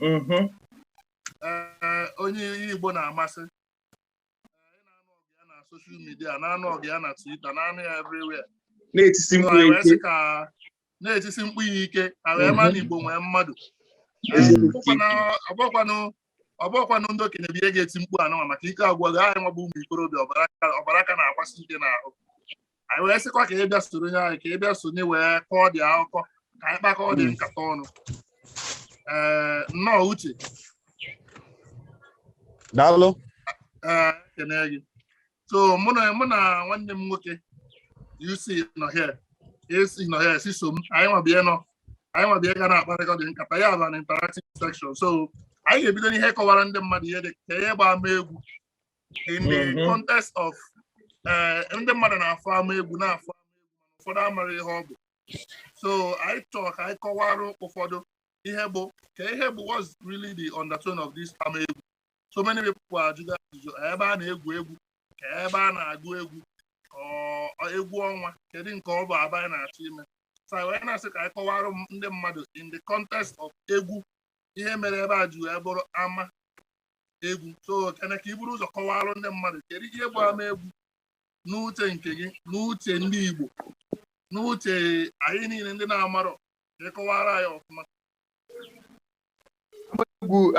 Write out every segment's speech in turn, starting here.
mm-hmm. eh, onye ihe Igbo na-amasị na-anụ ọgụ ya na soshal midia na-anụ ọgụ ya na Twitter na-anụ ya everywhere na-etisi mkpu ike na-etisi mkpu ya ike ka e wee maa na Igbo nwee mmadụ ọ bụkwanụ ndị okenye bụ ihe ga-eti mkpu anụnwa maka ike agwụ ha anyị nwa bụ ụmụ ikorobịa ọbara ka na-agbasi ike n'ahụ anyị wee sịkwa ka ị bịa sonyere anyị ka ị bịa sonye wee kọọdị akụkọ ka anyị kpakọọdị nkata ọnụ ee nnọọ Uche daalụ ee ekene gị so mụ na mụ na nwanne m nwoke UC nọ here UC nọ here Chisom anyị nwa bịa nọ anyị nwa bịa ga na-akparịkọdị nkata ya bụ an interactive section so anyị ga-ebido n'ịkọwara ndị mmadụ ihe dị ka ihe bụ ama egwu in the mm-hmm. context of eh, ndị mmadụ na-afụ ama egwu na-afụ ama egwu ụfọdụ amarọ ihe ọ bụ so anyị chọrọ ka anyị kọwara ụfọdụ ihe bụ ka ihe bụ what's really the undertone of this ama egwu so many people ajụgo ajụjụ ebe a na-egwu egwu ka ebe a na-agụ egwu egwu ọnwa kedu nke ọ bụ aba anyị na-achọ ime so anyị wee na-asị ka anyị kọwara ndị mmadụ in the context of egwu ihe mere ebe a ji wee bụrụ ama egwu so Kene ka i buru ụzọ kọwalụ ndị mmadụ kedu ihe bụ ama egwu n'uche nke gị n'uche ndị Igbo n'uche anyị niile ndị na-amarọ ka ị kọwara anyị ọfụma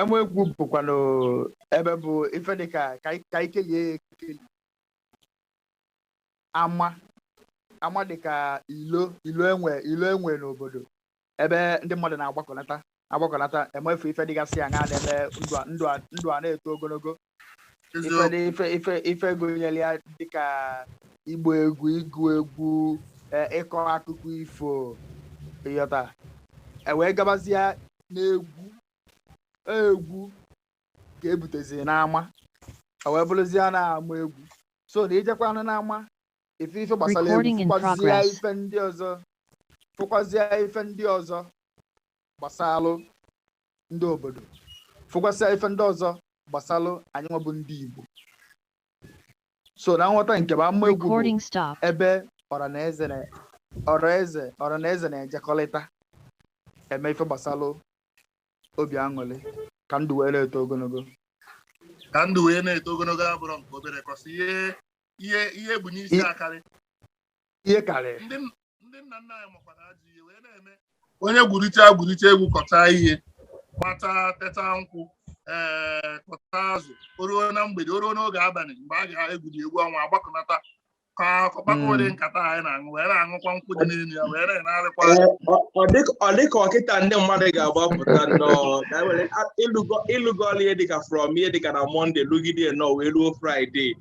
ama egwu bụkwanụ ebe bụ ife dị ka ka anyị- ka anyị kelie ya ekeli ama ama dị ka ilo ilo e nwe ilo e nwe n'obodo ebe ndị mmadụ na-agbakọnata agbakọnata emefu ife dịgasị aṅa na-eme ndụ a- ndụ a- ndụ a na-eto ogologo ife eziokwu dị- ife ife ife gụnyere ya dịka ịgba egwu ịgụ egwu eh, ịkọ akụkọ ifo ịghọta e wee gabazie na egwu egwu ka e butezi n'ama e wee bụrụzie na ama egwu so na i jekwanụ n'ama ife ife gbasara egwu Recording in fụkwazie progress. ife ndị ọzọ fụkwazie ife ndị ọzọ gbasalụ ndị obodo fụkwasịa ife ndị ọzọ gbasalụ anyị nwa bụ ndị Igbo so na nghọta nke m ama egwu bụ Recording stop. ebe ọra na eze na ọra eze ọra na eze na-ejekọrịta eme ife gbasalụ obi aṅụrị ka ndụ wee na-eto ogologo ka ndụ wee na-eto ogologo abụrụ nke obere kọsị ihe ihe ihe bụ n'isi akarị ihe karị ndị nna nna anyị makwara ajọ ihe wee na-eme onye gwurite gwurite egwu kọta ihe gbata teta nkwụ ee eh, kọta azụ o ruo na mgbede o ruo n'oge abalị mgbe a ga-egwuri egwu ọnwa agbakọnata ka ọkpakọ ụdị hmm. nkata anyị na-aṅụ wee na-aṅụkwa nkwụ dị n'elu ya wee na-enarịkwa ọ dịka ọ kịta ndị mmadụ ga-agbapụta nnọọ ịlụgo ọlụ ihe dịka from ihe dịka na mọnde lụgide nnọọ wee ruo fraịde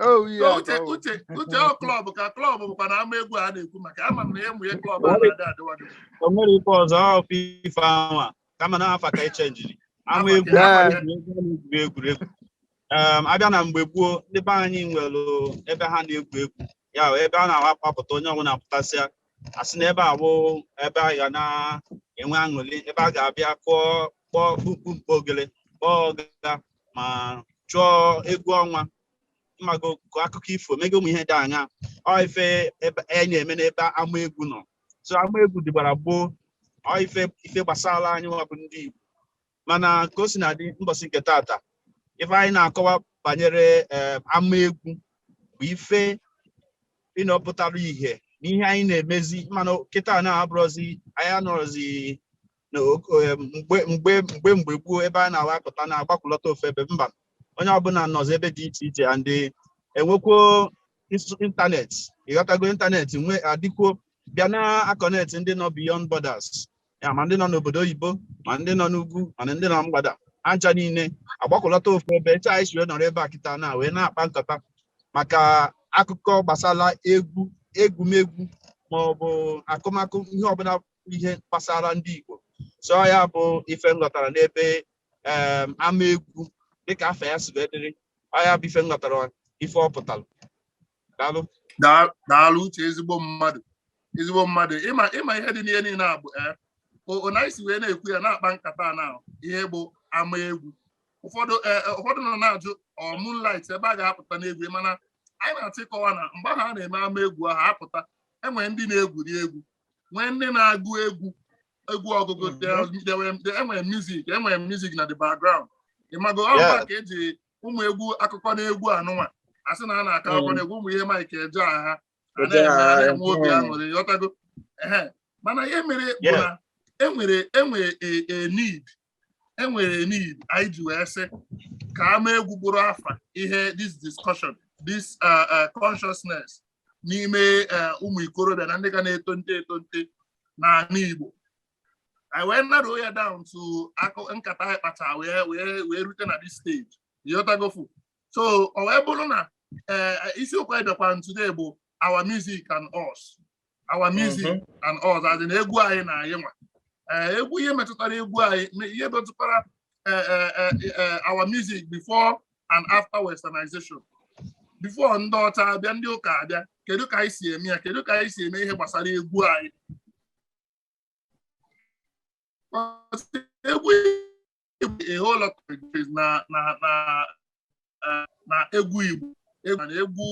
Oh, yeah, So uche oh. uche uche ọ klọb ka klọb bụkwa na ama egwu a na-ekwu maka ama m na ya mụnye klọb a na-adị adịwadị o nwere ife ọzọ ọ bụ ife anwa kama na afa ka e chenjiri ama egwu Afa ka- ama egwu a na-egwuri egwuregwu Em, a bịa na mgbe gboo ndị be anyị nwere ebe ha na-egwu egwu ya bụ ebe a na-awa akpapụta onye ọbụla pụtasịa a sị na ebe a bụ ebe a ga na-enwe aṅụrị ebe a ga-abịa kụọ kpọọ kpukpumkpu ogele kpọọ ọga ma chụọ egwu ọnwa ịmago kọọ akụkọ ifo mega ụmụ ihe dị aṅa ọ ife a na-eme n'ebe ama egwu nọ so ama egwu dịgbara gboo ọ ife ife gbasara anyị nwa bụ ndị Igbo mana ka o si na-adị mbọsị nke tata ife anyị na-akọwa banyere eh, ama egwu bụ ife ịnọpụtara ihe n'ihe anyị na-emezi mana kịta na-abụrọzi anyị anọrọzi na ok- eh, mgbe mgbe mgbe mgbe gboo ebe a na-awapụta na-agbakọlọta ofu ebe mba onye ọbụla nọzi ebe dị iche iche and eh, enwekwuo ins- ịntanetị ịghọtago ịntanetị nwa adịkwuo bịa na-akọnetị ndị nọ beyond borders ya ma ndị nọ n'obodo oyibo ma ndị nọ n'ugwu ma na ndị nọ na mgbada ha ncha niile agbakọlọta ofu ebe etu anyị si wee nọrọ ebe a kịta na wee na-akpa nkata maka akụkọ gbasara egwu egwumegwu ma ọ bụ akụmakụ ihe ọbụla ihe gbasara ndị Igbo so ọ ya bụ ife nghọtara n'ebe em, ama egwu dịka afa ya si wee dịrị ọ ya bụ ife nghọtara ife ọ pụtara daalụ Daa- daalụ uche ezigbo mmadụ ezigbo mmadụ ịma ịma ihe dị n'ihe niile a bụ ee o- o na isi wee na-ekwu ya na-akpa nkata a na ihe bụ ama egwu ụfọdụ ee, ee, ụfọdụ nọ na-ajụ ọ moonlight ebe a ga-apụta n'egwu mana anyị na-achọ ịkọwa na mgbe ahụ a na-eme ama egwu ahụ a pụta enwere ndị na-egwuri egwu nwee ndị na-agụ egwu egwu ọgụgụ there was- there were- there- enwere music enwere music na the background ịmago ọba Yeah. ka eji ụmụ egwu akụkọ na egwu anụnwa a sị na a na-akọ akụkọ mm. na egwu ụmụ ihe Mike Ejeagha a na-enwe obi mm. aṅụrị ghọtago ehe mana ihe mere bụ na enwere enwere e, e need enwere need anyị ji wee sị ka ama egwu bụrụ afa ihe this discussion this uh, uh, consciousness n'ime uh, ụmụ ikorobịa na ndị ga na-etonite etonite n'ala Igbo anyị wee narrow ya down to akụ nkata anyị kpacha wee wee wee rute na this stage ị ghọtagofu so ọ wee bụrụ na eh, isiokwu anyị bịakwara today bụ our music and us our music Mhm. and us as in egwu anyị na anyị nwa Eh, egwu ihe metụtara egwu anyị me- ihe metụtara eh, eh, eh, eh, our music before and after westernization before ndị ọcha abịa ndị ụka abịa kedu ka anyị si eme ya kedu ka anyị si eme ihe gbasara egwu anyị egwu a whole lot of things na na na eh, na egwu Igbo na egwu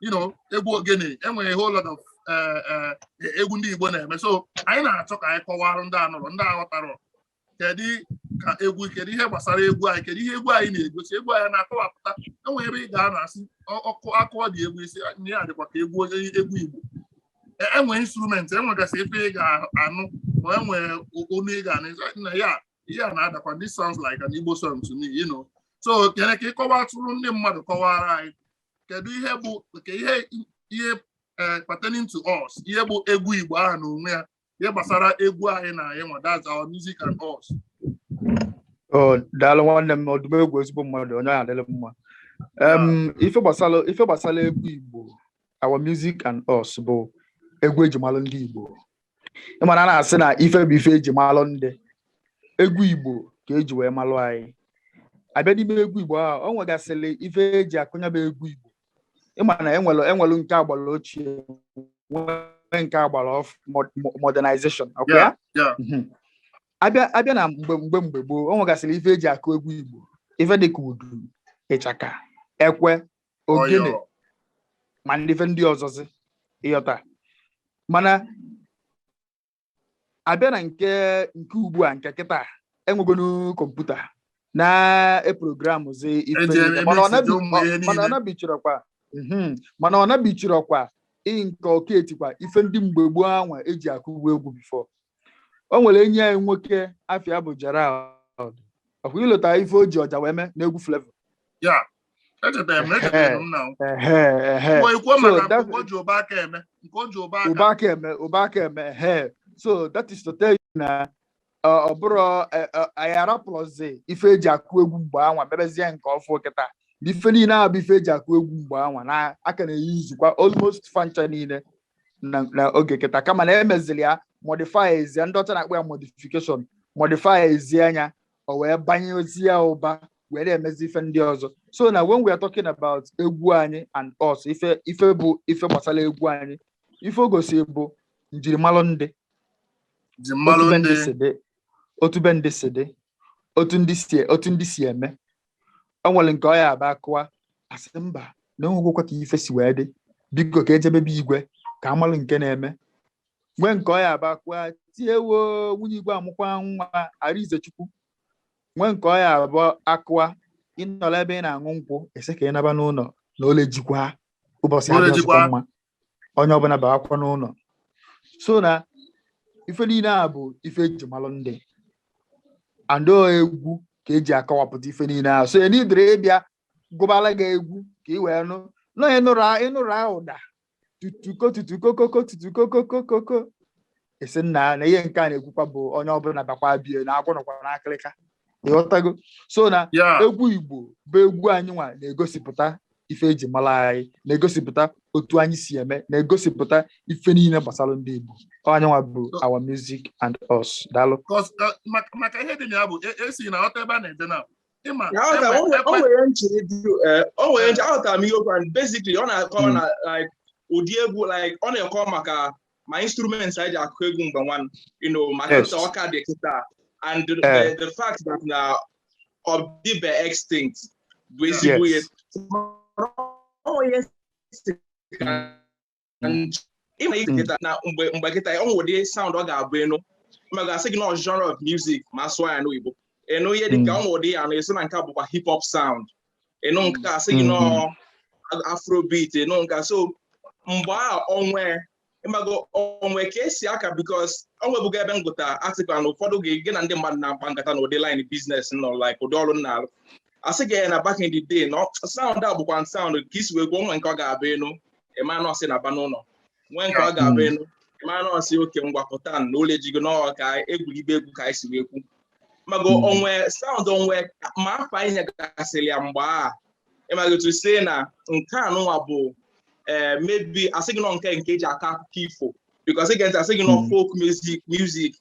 you know egwu ogene enwere a whole lot of eh, eh, egwu ndị Igbo na-eme so anyị na-achọ ka anyị kọwara ndị anụrọ ndị aghọtarọ kedu ka egwu kedu ihe gbasara egwu anyị kedu ihe egwu anyị na-egosi egwu anyị na-akọwapụta enwe ebe ị ga-anọ asị ọkụ akụọ ụdị egwu ị sị ihe a dịkwa ka egwu onye egwu Igbo enwe e instrument enwegasị ebe ị ga-anụ ma enwe onu ị ga-anụ na ya ihe a na-adakwa this sounds like an Igbo song to me you know so Kene ka ị kọwatụrụ ndị mmadụ kọwara anyị kedu ihe bụ ka ihe ihe eh, pertaining to us ihe bụ egwu Igbo ahụ na onwe ya ihe gbasara egwu anyị na anyị nwa that's our music and us Oh, daalụ nwanne m Odumegwu ezigbo mmadụ onye ahụ adịrị mma Em, ife gbasara ife gbasara egwu Igbo our music and us bụ egwu eji malụ ndị Igbo ị ma na a na-asị na ife bụ ife eji malụ ndị egwu Igbo ka eji wee malụ anyị abịa n'ime egwu Igbo ahụ ọ nwegasịrị ife eji akụ nya bụ egwu Igbo ị ma na enwelu enwelu nke agbara ochie nwee nke agbara ọfụ modernization ọkwa ya mhm. abịa abịa na mgbe mgbe mgbe gboo o nwegasịrị ife eji akụ egwu Igbo ife dịka udu ịchaka ekwe ogene ma ndị ife ndị ọzọzi ị ghọta mana abịa na nke nke ugbu a nke kịta enwegonu kọmputa na-eprogramụzi ife Eji niile. Mana ọ emesi nabi- ụmụ ihe ọ- mana ọ niile. nabichirọkwa mhm, mana ọ nabichirọkwa ị nke ọ ka etikwa ife ndị mgbe gboo anwa eji akụbu egwu before o nwere enyi anyị nwoke afa ya bụ Gerald ọkwa i lota ife o ji ọja wee mee n'egwu Flavour ya echetara m echetara m na Ehe, ikwo so maka that- nke o ji ụbọ aka eme nke o ji ụbọ aka ụbọ aka eme, ụbọ aka eme, ehe. So that is to tell you na ọ ọ bụrọ eh, eh, anyị arapụrụzi ife eji akụ egwu mgbe anwa mebezie nke ọfụ kịta na ife niile a bụ ife eji akụ egwu mgbe anwa na a ka na-eyuzikwa almost fa ncha niile na na oge kịta kama na emeziri ya modify ezie ndị ọcha na-akpọ ya modification modify ezie nya o wee banye ozi ya ụba wee na-emezi ife ndị ọzọ so na when we are talking about egwu anyị and us ife ife bụ ife gbasara egwu anyị ife o gosi bụ njirimara ndị otu be ndị si dị otu ndị si e, otu ndị si eme o nwere nke ọ ya-abụ a kụwa a sị mba na o nwegokwa ka ife si wee dị biko ka e jebe be igwe ka a malụ nke na-eme nwee nke ọ ya-abụ a kụwa tie woo nwunye igwe amụkwa nwa Arịnzechukwu nwee nke ọ ya-abụ a kụwa ị nọlọ ebe ị na-aṅụ nkwụ a sị ka ị naba n'ụlọ na ole jikwa ụbọchị adịrọzịkwa mma onye ọbụla bakwa n'ụlọ so na ife niile a bụ ife e ji malụ ndị and ọ egwu ka e ji akọwapụta ife niile a so e needirọ ịbịa gụbara gị egwu ka ị wee nụ na ọ ị nụrụ a- ị nụrụ ahụ ụda tutuko tutukokoko tutukokokokoko a sị nna na ihe nke a na-ekwukwa bụ onye ọbụla bakwa be ya na agwọ nọkwa n'akịrịka ị ghọtago so na egwu igbo bụ egwu anyị nwa na-egosipụta ife e ji mara anyị na-egosipụta otu anyị si eme na-egosipụta ife niile gbasara ndị igbo Ọ anyị nwa bụ our music and us daalụ Cause, uh, maka maka ihe dị na ya bụ e- a sị na ọta ebe a na-ede na ị ma Ya aghọtara m, o nwere- o ekwe- nwere nchiri dị eh, o nwere nchiri aghọtara m ihe o kwu and basically ọ na-akọwa na like ụdị egwu like ọ na-akọ maka ma instruments anyị ji akụ egwu mgbe nwa you know ma Yes. kịta ọ ka dị kịta and the, Eh. the, the fact that na ọ dịbe extinct bụ ezigbo ihe Yes. O nwere ihe si ka ị ma like kịta na mgbe mgbe kịta o nwere ụdị sound ọ ga-abụ ị nụ ma a ga-asị gị na ọ genre of music ma a sụọ ya n'oyibo ị nụ ihe dịka o nwere ụdị ị ya-anụ a sị na nke a bụkwa hip hop sound ị nụ nke a sị gị na ọ afrobeat ị nụ nke a so mgbe a o nwe ị mago o nwe ka e si akọ because o nwebugo ebe m gụta article na ụfọdụ gị gị na ndị mmadụ na-akpa nkata na ụdị line business m nọ like ụdị ọrụ m na-alụ a sị gị na back in the day na sound a bụkwa sound ka i si wee kwuo o nwe nke ọ ga-abụ ị nụ ị ma na ọ sị naba n'ụlọ nwee nke ọ ga-abụ ị nụ ị ma na ọ sị okay ngwa pụta na ụlọ ejigo n'ọghọ ka e gwuribe egwu ka anyị si wee kwu mago Mm. o nwe sound o nwe ma afa e nyegasịrị ya mgbe a ị mago otu a sị na nke a nụnwa bụ ee maybe a sị gị na ọ nke nke e ji akọ akụkọ ifo because a ga-asị gị na ọ Mm. folk music music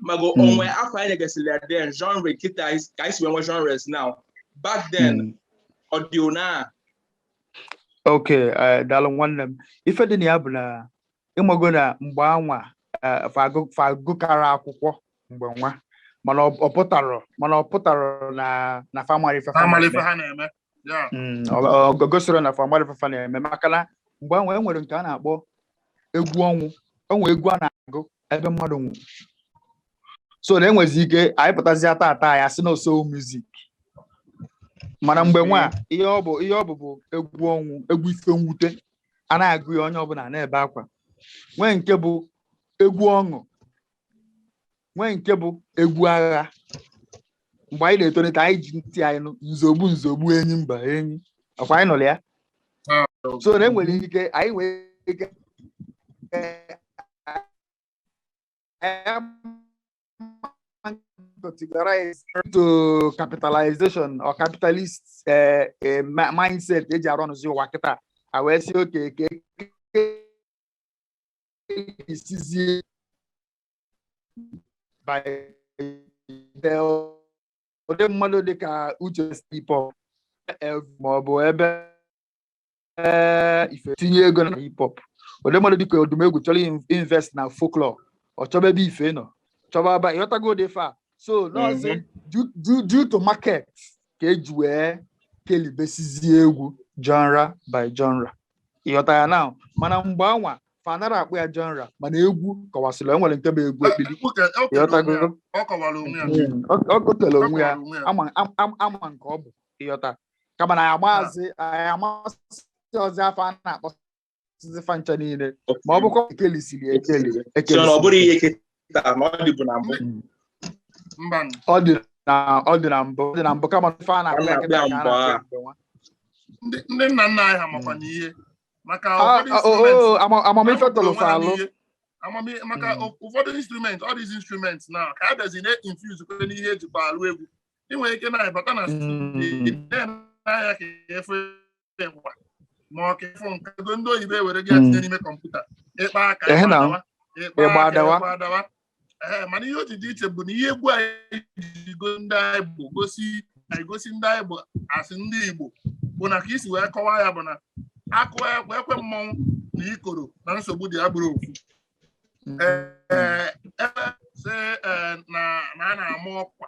mago mm. o nwe afa anyị nyegasịrị ya then genre kịta ka anyị si wee nwe genres now back then mm. ọ dị ona ok eh, daalụ nwanne m ife dị na ya bụ na ị mago na mgbe anwa eh, fa agụkarọ akwụkwọ mgbe nwa mana ọ pụtarọ mana ọ pụtarọ na na fa amarọ ife ha na-eme Yeah. Mm, ọ- ọ- ọ gosiri na fa malụ ife fa na-eme maka na mgbe anwa e nwere nke a na-akpọ egwu ọnwụ o nwere egwu a na-agụ ebe mmadụ nwụ so na enwezi ike anyị pụtazịa tata anyị asị na ọ soul music mana mgbe anwa ihe ọ bụ ihe ọ bụ bụ egwu ọnwụ egwu ife mwute a na-agụ ya onye ọbụla na-ebe akwa nwee nke bụ egwu ọṅụ nwee nke bụ egwu agha mgbe anyị na-etolite anyị ji ntị anyị nụ nzogbu nzogbu enyi mba enyi ọkwa anyị nụrụ ya so na enwere ike anyị nwee ike to capitalization or capitalist eh, eh, ma- mindset eji a-runzi ụwa kịta a wee sị okay ka isizie ụdị mmadụ dịka Uche sị hip hop ma ọ bụ ebe ife tinye ego na hip hop ụdị mmadụ dịka Odumegwu chọrọ invest na folklore ọ chọba ebe ife nọ chọba aba ịghọtago ụdị fa so n'ọzọ mhm. due to market ka eji wee kelibesizie egwu genre by genre ịghọta ya now mana mgbe anwa fa anarọ akpọ ya genre mana egwu kewasịrị e nwere nke bụ egwu ekpili ọ gotele onwe ya ama nke ọ bụ ịghọta kama na ya maazị ya amasịrọzị afa a na-akpọsizi fa ncha niile ma ọ bụkwa ekelisiri ekeli ekeli ọ bụrọ ihe kịta na ọ dịbụ na mbụ ọ dị na ọ dị na mbụ ọ dị na mbụ kama ife a na-akpọ ya kịta ka a na-akpọ ya ndị nna nna anyị ha makwa na ihe maka amamife tọlụ fa alụ amamihe maka hmm. ụfọdụ instrument all these instruments now ka a bịazi na-infuse kwe n'ihe ejikwa alụ egwu ị nwere ike na-abata na studio na-anya ka ịfụ igba ma ọ ka ịfụ nke ndị oyibo ewerego ya tinye hmm. n'ime kọmputa ịkpa aka igba adawa ee mana ihe o ji dị iche bụ na ihe egwu anyị ji go ndị anyị bụ gosi anyị gosi ndị anyị bụ as ndị Igbo bụ na ka i si wee kọwaa ya bụ na a kụọ ekwe ekwe mmọnwụ na ikoro na nsogbu dị e gburu opu ee ebe sị ee, na na a na-ama ọkwa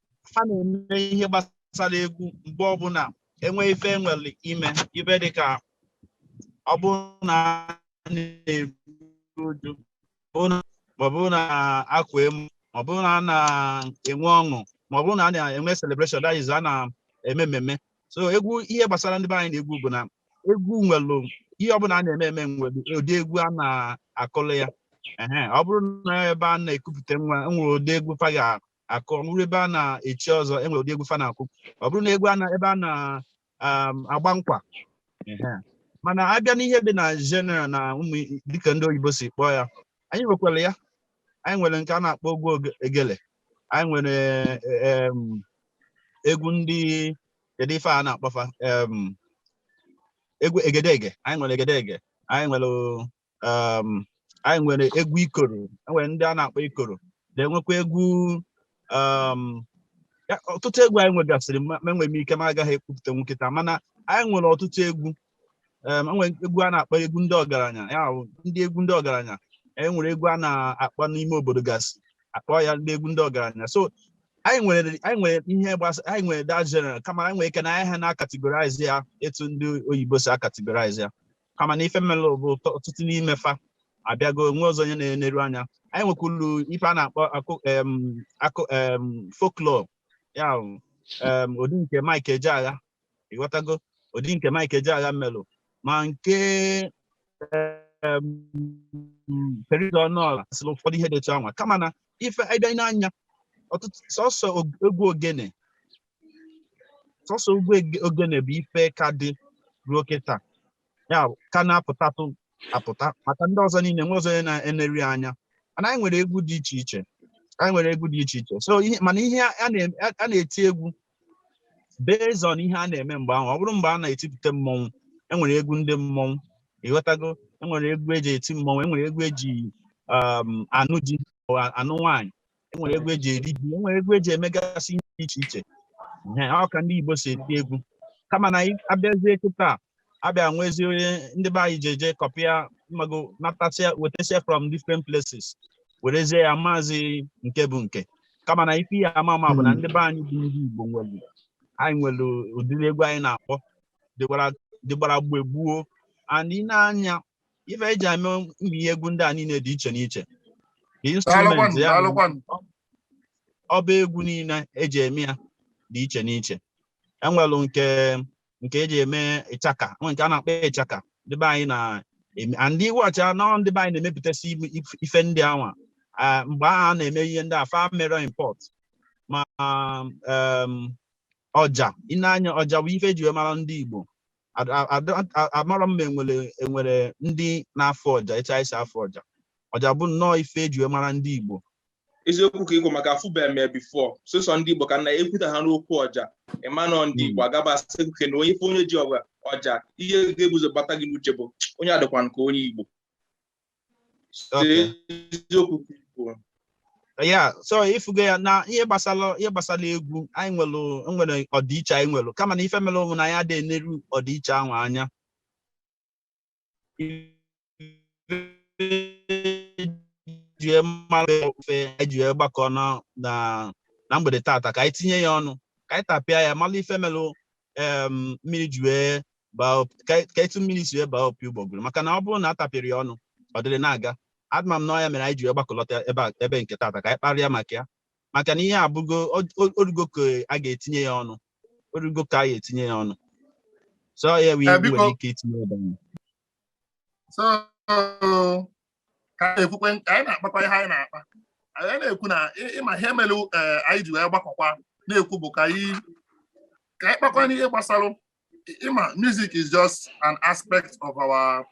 a na-eme ihe gbasara egwu mgbe ọbụla enwe ife enwere ime ibe dịka ọ bụrụ na a na-eru uju ma ọ bụrụ na akpa amụ ma ọ bụrụ na a na-enwe ọṅụ ma ọ bụrụ na a na-enwe celebration that is a na-eme mmemme so egwu ihe gbasara ndị be anyị na egwu bụ na egwu nwere ihe ọbụla a na-eme eme nwere ụdị egwu a na-akụlụ ya ọ bụrụ na ebe a na-ekupụta nwa nwere ụdị egwu fa ga akụ ọ bụrụ ebe a na-echi ọzọ e nwere ụdị egwu fa na-akụ ọ bụrụ na egwu a na- ebe a na-agba nkwa ehe. mana abịa n'ihe dị na general na ụmụ i- dịka ndị oyibo si kpọọ ya anyị nwekwara ya anyị nwere nke a na-akpọ egwu oge- egele anyị nwere em, egwu ndị kedu ife a na-akpọfa em, egwu egedege anyị nwere egedege anyị nwere um, anyị nwere egwu ikoro enwere ndị a na-akpọ ikoro na-enwekwa egwu um, ọtụtụ egwu anyị nwegasịrị ma enwere m ike m agaghị ekwupụtanwu kịta mana anyị nwere ọtụtụ egwu um, enwere egwu a na-akpọ egwu ndị ọgaranya ya ndị egwu ndị ọgaranya anyị nwere egwu a na-akpọ n'ime obodo gasị akpọ ya ndị egwu ndị ọgaranya so anyị nwere anyị nwere ihe gbasa anyị nwere that general kama anyị nwere ike na anyị ha na-akategorize ya etu ndị oyibo si akategorize ya kama na ife melụ bụ ọtụtụ n'ime fa abịago nwerọzị onye na-eneru anya anyị nwekwuru ife a na-akpọ akụ folklore ya ụdị nke Mike Ejeagha ịghọtago ụdị nke Mike Ejeagha melụ ma nke perida ọnụọla sịrị ụfọdụ ihe dị etu anwa kama na ife ị bịa nee anya ọtụtụ sọsọ egwu ogene sọsọ egwu ege- ogene bụ ife ka dị ruo kịta ya bụ, ka na-apụtatụ apụta maka ndị ọzọ niile nwerọzị onye na-eneru ya anya mana anyị nwere egwu dị iche iche anyị nwere egwu dị iche iche so ihe mana ihe a a na-em- a- a na-eti egwu based on ihe a na-eme mgbe ahụ ọ bụrụ mgbe a na-etipụta mmọnwụ enwere egwu ndị mmọnwụ ịghọtago enwere egwu eji eti mmọnwụ enwere egwu eji um, anụ di or anụ nwaanyị enwere egwu eji eri ji enwere egwu eji emegasị ihe dị iche iche Ee, ọ ka ndị Igbo si eti egwu kama na anyị abịazie kịta abịa nwezie onye ndị be anyị jeje kọpịa ị mago natasịa wetasịa from different places werezie ya amazi nke bụ nke kama na ife ihe ama ama bụ na ndị be anyị bụ ndị Igbo nwere anyị nwere ụdịrị egwu anyị na-akpọ dịgbara dịgbara mgbe gboo and i nee anya ife eji eme ihe egwu ndị a niile dị iche n'iche the instrument ya bụ egwu niile eji eme ya dị iche n'iche enwelụ nke nke eji eme ịchaka nwe nke a na-akpọ ịchaka ndị be anyị na ndị iwuọcha anọ ndị be anyị na-emepụtasị ife ndị anwa mgbe ahụ a na-eme ihe ndị a fa emerọ import ma ọja i nee anya ọja bụ ife eji wee mara ndị Igbo Ad- a- ada- a- amarọ m ma enwere enwere ndị na-afụ ọja etu anyị si afụ ọja ọja bụ nnọọ ife eji wee mara ndị igbo eziokwu ka ịgwa maka afụbeghị m ya before sọsọ ndị igbo ka a na-ekwuta ha n'okwu ọja ị ma na ọ ndị igbo agaba asị nke na onye ị fụ onye ji ọgwa ọja ihe ga-ebu ụzọ gbata gị n'uche bụ onye a dịkwanụ ka onye igbo ya so ị fugo ya na ihe gbasara ihe gbasara egwu anyị nwere nwere ọdịiche anyị nwere kama na ife mere ụmụnna anyị adịghị eneru ọdịiche ahụ anya ị ma na ọ ife anyị ji wee gbakọ na na mgbede tata ka anyị tinye ya ọnụ ka anyị tapịa ya mara ife mere mmiri ji wee baa ka etu mmiri si wee baa opi ụgbọgụrụ maka na ọ bụrụ na a tapịrị ya ọnụ ọ dịrị na-aga ama m na ọ ya mere anyị ji wee gbakọlọta ebe a ebe nke tata ka anyị kparịa maka ya maka na ihe a bụ oge erugo ka a ga-etinye ya ọnụ o rugo ka a ga-etinye ya ọnụ so ya wee nwere ike itinye ebe ahụ so ka anyị na-ekwukwe ka anyị na-akpakwa ihe anyị na-akpa anyị na-ekwu na ị ma ihe mere e, anyị ji wee gbakọkwa na-ekwu bụ ka anyị ka anyị kpakwa n'ihe gbasara ị ma music is just an aspect of our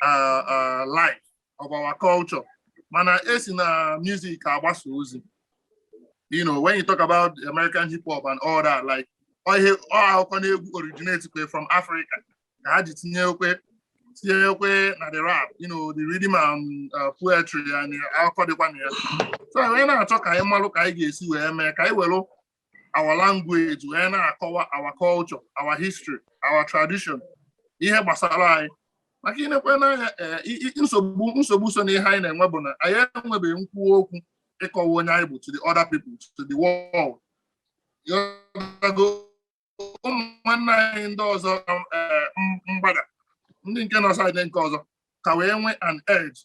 uh, uh, life of our culture mana e si na music agbasa ozi you know when you talk about American hip hop and all that like ọ ihe ọ akụkọ n'egwu originate from Africa ka ha ji tinyekwe tinyekwe na the rap you know the rhythm and uh, poetry ya na akụkọ dịkwa na ya so anyị na-achọ ka anyị malụ ka anyị ga-esi wee mee ka anyị welụ our language wee na-akọwa our culture our history our tradition ihe gbasara anyị maka i nekwenụ anya eh, nsogbu nsogbu so na ihe anyị na-enwe bụ na anyị enwebeghị nkwuwa okwu ịkọwa onye anyị bụ to the other people to the world ụmụnna anyị ndị ọzọ eh, mgbada ndị nke nọ side nke ọzọ ka wee nwee an edge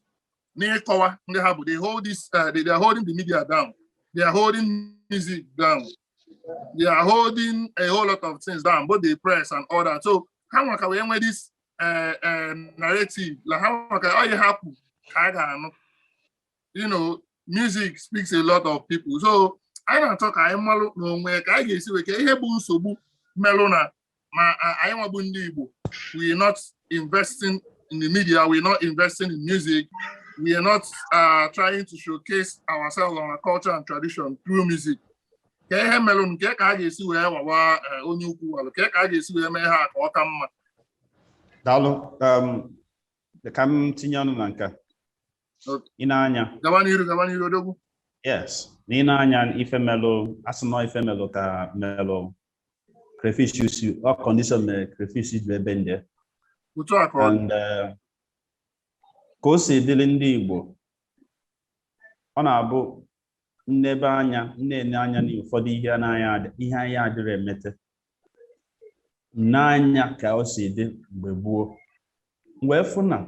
n'ịkọwa ndị ha bụ they hold this eh, they are holding the media down they are holding music down they are holding a whole lot of things down both the press and all that so ha nwa ka wee nwee this eh, narrative like ha nwa ka ọ yi hapụ ka a ga-anụ you know music speaks a lot of people so anyị na-achọ ka anyị malụ n'onwe ka anyị ga-esi wee kee ihe bụ nsogbu melụ na ma anyị nwa bụ ndị Igbo we are not investing in the media we are not investing in music we are not uh, trying to showcase ourselves on our culture and tradition through music kee ihe melụ kee ka a ga-esi wee wawa eh, onye ukwu walụ ka ka a ga-esi wee mee ha ka ọ ka mma daalụ um, ka m tinye ọnụ na nke ị na-anya gaba n'iru gaba n'iru odogwu yes na i ne anya ife melụ a sị na ọ ife melụ ka melụ crayfish so ọ condition mere crayfish ji wee bend otu a ka ọ and eh, ka o si dịrị ndị Igbo ọ na-abụ m nebe anya na-ene anya na ụfọdụ ihe anaghị adị ihe anyị adịrị emete n'anya ka o si dị mgbe gboo wee fụ na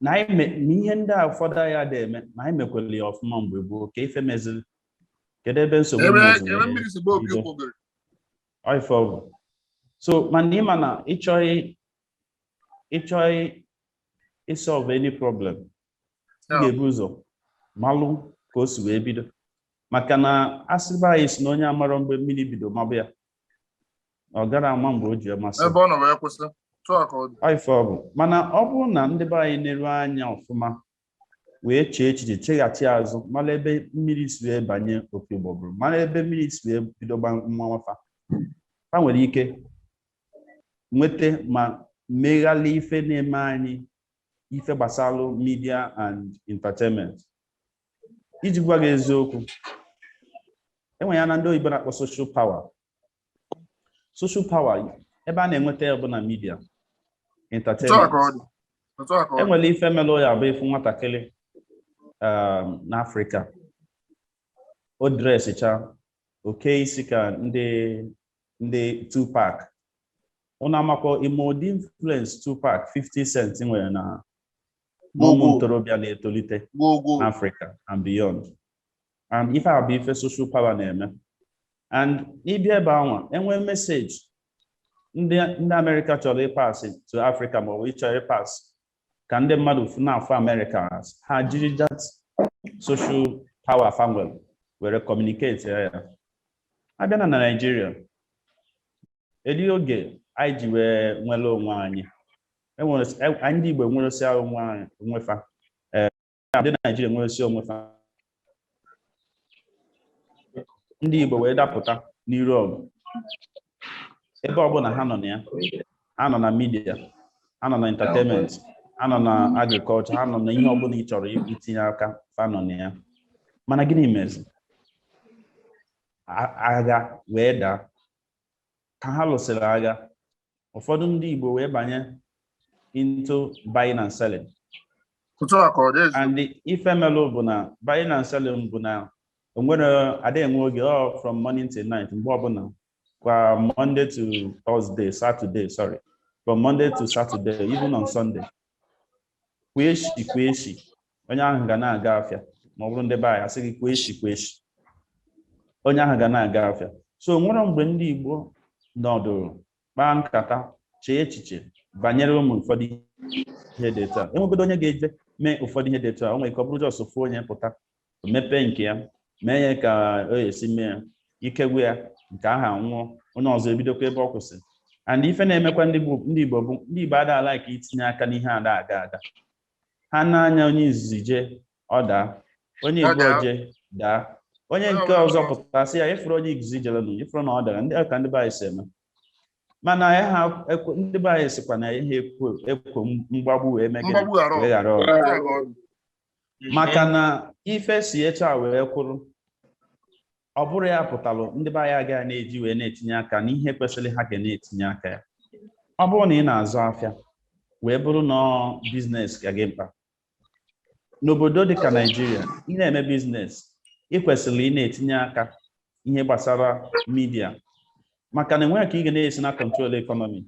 na anyị me- na ihe ndị a ụfọdụ anyị adị eme na anyị mekwere ya ọfụma mgbe gboo ka ife meziri kedu ebe nsogbu ebe meziri ebe mmiri si baa opi bido? ụgbọgụrụ Ife ọ bụ. So mana ị ma na ị chọọ ị chọọ isolve any problem ị ga-ebu ụzọ malụ ka o si wee bido maka na a sị be anyị sị na onye amarọ mgbe mmiri bido maba ya ọ gara ama mgbe o ji masị ebe ọ nọ wee kwụsị ife ọ bụ mana ọ bụrụ na ndị be anyị neruo anya ọfụma wee chee echiche cheghachi azụ mara ebe mmiri si wee banye opi ụgbọgụrụ mara ebe mmiri si wee bido maba fa ha nwere ike nweta ma meghalị ife na-eme anyị ife gbasalụ media and entertainment iji gwa gị eziokwu enwe ihe a na ndị oyibo na-akpọ social power social power ebe a na-enweta ya bụ na media entertainment enwere ife melụ ọ ya-abụ ị fụ nwatakịrị um, n'afrịka o dresịcha o kee isi ka ndị ndị Tupac ụnụ amakwa ị ma ụdị influence Tupac 50 Cent nwere na ụmụ ntorobịa na-etolite n'Africa and beyond and ife a bụ ife social power na-eme and ị bịa ebe anwa enwee meseji ndị Amerịka chọrọ ịpasị to Africa ma ọ bụ ị chọrọ ịpasị ka ndị mmadụ fụ na-afụ amerịka ha jiri that social power fa nwere were communicate ya ya a bịa na na naijiria eri oge anyị ji wee nwere onwe anyị enwere anyị ndị igbo enweresịa onwe anyị onwe fa ka ndị Naijiria nweresị onwe fa ndị Igbo wee dapụta n'iru ọgụ ebe ọbụla ha nọ na ya ha nọ na midia ha nọ na entertainment ha nọ na agrikọlchọ ha nọ na ihe ọbụla ị chọrọ itinye aka fa nọ na ya mana gịnị mezi agha wee daa ka ha lụsịrị agha ụfọdụ ndị Igbo wee banye into buying and selling and ife melụ bụ na buying and selling bụ na onwere ada enwe oge ọ oh, from morning till night mgbe ọbụla kwa Monday to Thursday Saturday sorry from Monday to Saturday even on Sunday kwa echi kwa echi onye ahụ ga na-aga afịa ma ọ bụrụ ndị be anyị a sị gị kwa echi kwa echi onye ahụ ga na-aga afịa so o nwerọ mgbe ndị Igbo nọdụrụ kpaa nkata chee echiche banyere ụmụ ụfọdụ ihe dị etu a enwegodu onye ga-eje mee ụfọdụ ihe dị etu a o nwere ike ọ bụrụ just ofu onye pụta mepee nke ya mee ya ka o esi mee ya ike gwụ ya nke aha nwụọ onye ọzọ ebidokwa ebe ọ kwụsị and ife na-emekwa ndị Igbo ndị Igbo bụ ndị Igbo ada ala ka itinye aka n'ihe ada aga aga ha na-anya onye izizi jee ọ daa onye Ọ igbo daa. jee daa onye Ọ nke daa. ọzọ pụta sị ya ị fụrụ onye izizi jere nụ ị fụrụ na ọ dara ndị ka ndị be anyị si eme mana ya ha ekwe- ndị be anyị sikwa na ihe ekwo ekwo mgbagbu wee megide mgbagbu ghara wee ghara ọgụ. ọgụ maka na ife si etu a wee kwụrụ ọ bụrụ ya pụtalụ ndị be anyị agaghị na-eji wee na-etinye aka n'ihe kwesịrị ha ga na-etinye aka ya ọ bụrụ na ị na-azụ afịa wee bụrụ na biznes ka gị mkpa n'obodo dịka naijiria ị na-eme biznes ị kwesịrị ị na-etinye aka ihe gbasara midia maka na enweghị ka ị ga na-esi na control economy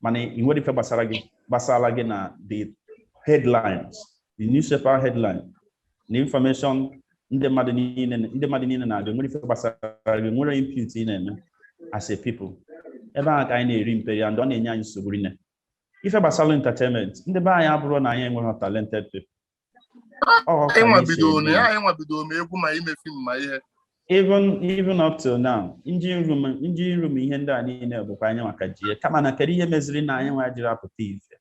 mana i nwerọ ife gbasara gị gbasara gị na the headlines the newspaper headline na information ndị mmadụ niile ndị mmadụ niile na-abịa nwere ife gbasara gị nwere input ị na-eme as a people ebe ahụ ka anyị na-eri mperi and ọ na-enye anyị nsogbu rinne ife gbasara entertainment ndị be anyị abụrọ na anyị enweghị talented people Ọ ka anyị anyị si nwabido na eme. ya anyị nwa bido ma egwu ma ime fim ma ihe even even up till now engine room engine room ihe ndị a niile bụkwa anyị nwa ka ji ya kama na kedu ihe meziri na anyị nwa ejirọ apụta ife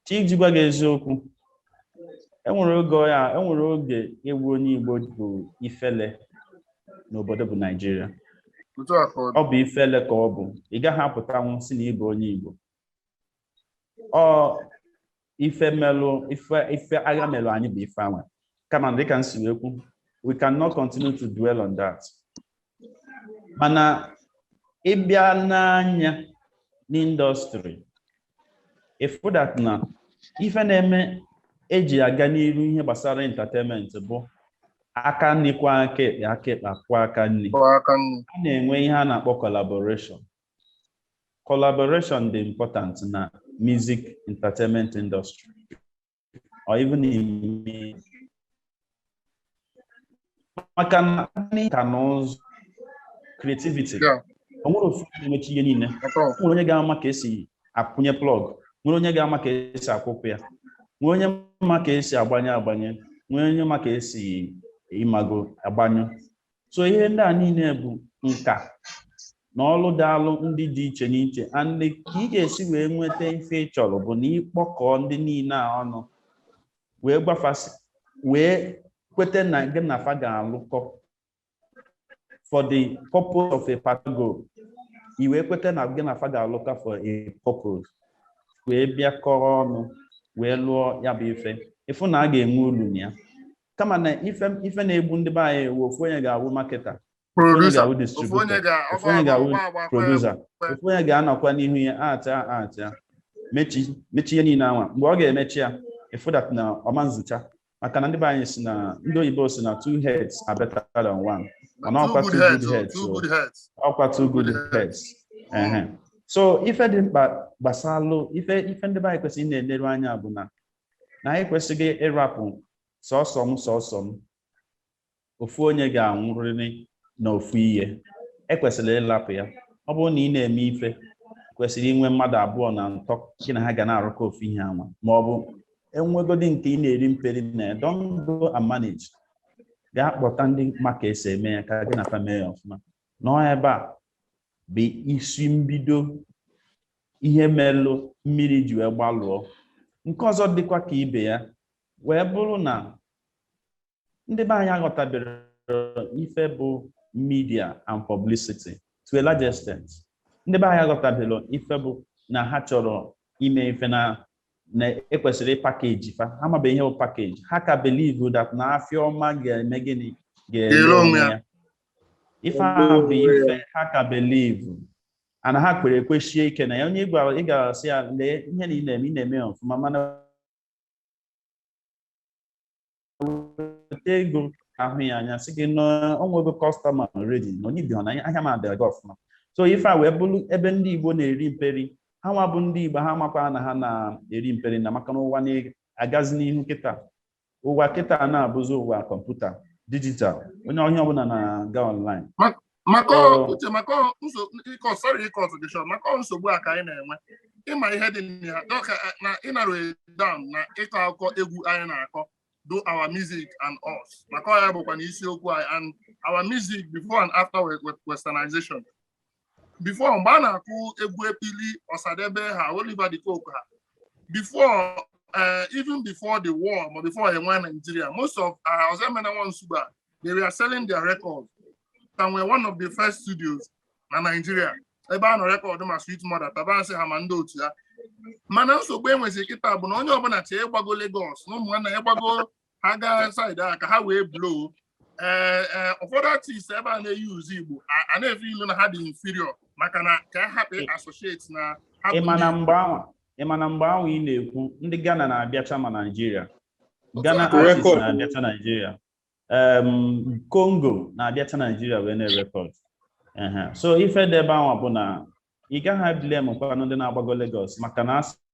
chi iji gwa gị eziokwu enwere oge ya enwere oge ịbụ onye igbo bụ ifele n'obodo bụ naijiria otu a ka ọ dị ọ bụ ifele ka ọ bụ ị gaghị apụtanwu sị na ị bụ onye igbo ọ ife melụ ife ife agha melụ anyị bụ ife anwa kama dịka m si wee kwu we cannot continue to dwell on that mana ị bịa nee anya na industry ị fụ that na ife na-eme eji aga n'iru ihe gbasara entertainment bụ aka nri kwọọ aka ekpe aka ekpe akwọọ aka nri Kwọọ aka nri. a na-enwe ihe a na-akpọ collaboration collaboration dị important na music entertainment industry or even in maka na nka na ụzụ creativity Yeah. o nwerọ ofu onye na-emecha ihe niile At all. nwere onye ga-ama ka esi akwụnye plug nwere onye ga-ama ka esi akwụpụ ya nwere onye ma ka esi agbanye agbanye nwere onye ma ka esi ị mago agbanyụ so ihe ndị a niile bụ nka na ọlụ dịịlụ ndị dị iche n'iche and ka ị ga-esi wee nweta ife ị chọrọ bụ na ị kpọkọọ ndị niile a ọnụ wee gwa fa sị wee kweta na gị na fa ga-alụkọ for the purpose of a particular goal i wee kweta na gị na fa ga-alụkọ for a purpose wee bịakọrọ ọnụ wee lụọ ya bụ ife ị fụ na a ga-enwe ulu na ya kama na ife ife na-egbu ndị be anyị wụ ofu onye ga-awụ marketer producer ofu onye ga-awụ distributor ofu onye ga-awụ producer ofu onye ga-anọkwa n'ihu ya acha acha mechi mechi ihe niile anwa mgbe ọ ga-emechi ya ị fụ that na ọma nzicha maka na ndị be anyị si na ndị oyibo si na two heads are better than one mana ọkwa two good heads ọkwa two good heads ehe so ife dị mkpa gbasalụ ife ife ndị be anyị kwesịrị na-eleru anya bụ na na anyị kwesịghị ịrapụ sọsọ m sọsọ m ofu onye ga-anwụrịrị na ofu ihe ekwesịrị ịlapụ ya ọ bụrụ na ị na-eme ife kwesịrị inwe mmadụ abụọ na ịtọ gị na ha ga na-arụkọ ofu ihe anwa ma ọ bụ e nwegodi nke ị na-eri mperi na ya don't go and manage gaa kpọta ndị ma ka e si eme ya ka gị na fa mee ya ọfụma na ọ ebe a bụ isi mbido ihe melụ mmiri ji wee gbalụọ nke ọzọ dịkwa ka ibe ya wee bụrụ na ndị be anyị aghọtabere ife bụ media and publicity to a large extent ndị be anyị aghọtabere ife bụ na ha chọrọ ime ife na na ekwesịrị ịpackage fa ha mabe ihe bụ package ha ka believe that na afịa ọma ga-eme gịnị ga-ele onwe ya ife a bụ ife ha ka believe ana ha kwere ekwesie ike na ya onye ị gwa ị gara sị ya lee ihe na ị na-eme ị na-eme ya ọfụma mana weta ego ahụ ya anya sị gị na o nwego customer ready na onye ibi hụ na ahịa m adịghị gị ọfụma so ife a wee bụrụ ebe ndị igbo na-eri mperi ha nwa bụ ndị igbo ha makwa na ha na-eri mperi na maka na ụwa na-agazi n'ihu kịta ụwa kịta a na-abụzi ụwa kọmputa dijital onye onye ọbụla na-aga online maka Ọ- ọ- uche maka ọ- nso- ịkọ sorry ịcut gị short maka ọ nsogbu a ka anyị na-enwe ịma ihe dị na ya dọka na ịnarrow down na ịkọ akụkọ egwu anyị na-akọ bụ our music and us maka ọ ya bụkwa na isiokwu anyị and our music before and after we- we- westernization before mgbe a na-akụ egwu ekpili Osadebe ha Oliver de Coque ha before eh, even before the war ma before enwe Nigeria most of uh, Ozoemena Nwa Nsugbe they were selling their records and were one of the first studios na Nigeria ebe a nọ rekọdụ ma Sweet Mother Tabansi ha ma ndị otu ya mana nsogbu enwezi kịta bụ na onye ọbụla chee ịgbago Lagos na ụmụnna ya gbago ha gaa side a ka ha wee blow ee ee ụfọdụ artist ebe a na-eyuzu Igbo a- a na-efiilu na ha dị inferior maka na ka ha hapụ associate na ha bụ ịma na ndị- mgbe anwa ịma na mgbe anwa ị na-ekwu ndị Ghana na-abịacha ma Naịjirịa Ghana Otu a. artist Record. na-abịacha Naịjirịa em, Congo na-abịacha Naịjirịa wee na-erekọd Ehe. so ife dị ebe anwa bụ na ị gaghị blame kwanụ ndị na-agbago Lagos maka na a sị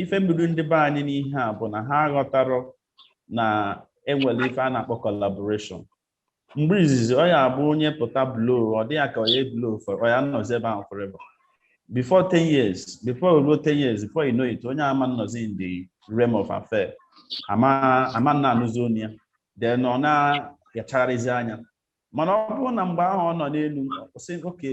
ife mbido ndị be anyị n'ihe a bụ na ha aghọtarọ na enwere ife a na-akpọ collaboration mgbe izizi ọ ya-abụ onye pụta blow ọ dị ya ka onye blow for ọ ya nọzi ebe ahụ forever before 10 years before o ruo 10 years before you know it onye ama nọzi in the realm of affair ama na-anụzi onu ya then ọ na-achagharịzi anya mana ọ bụrụ na mgbe ahụ ọ nọ n'elu sị oke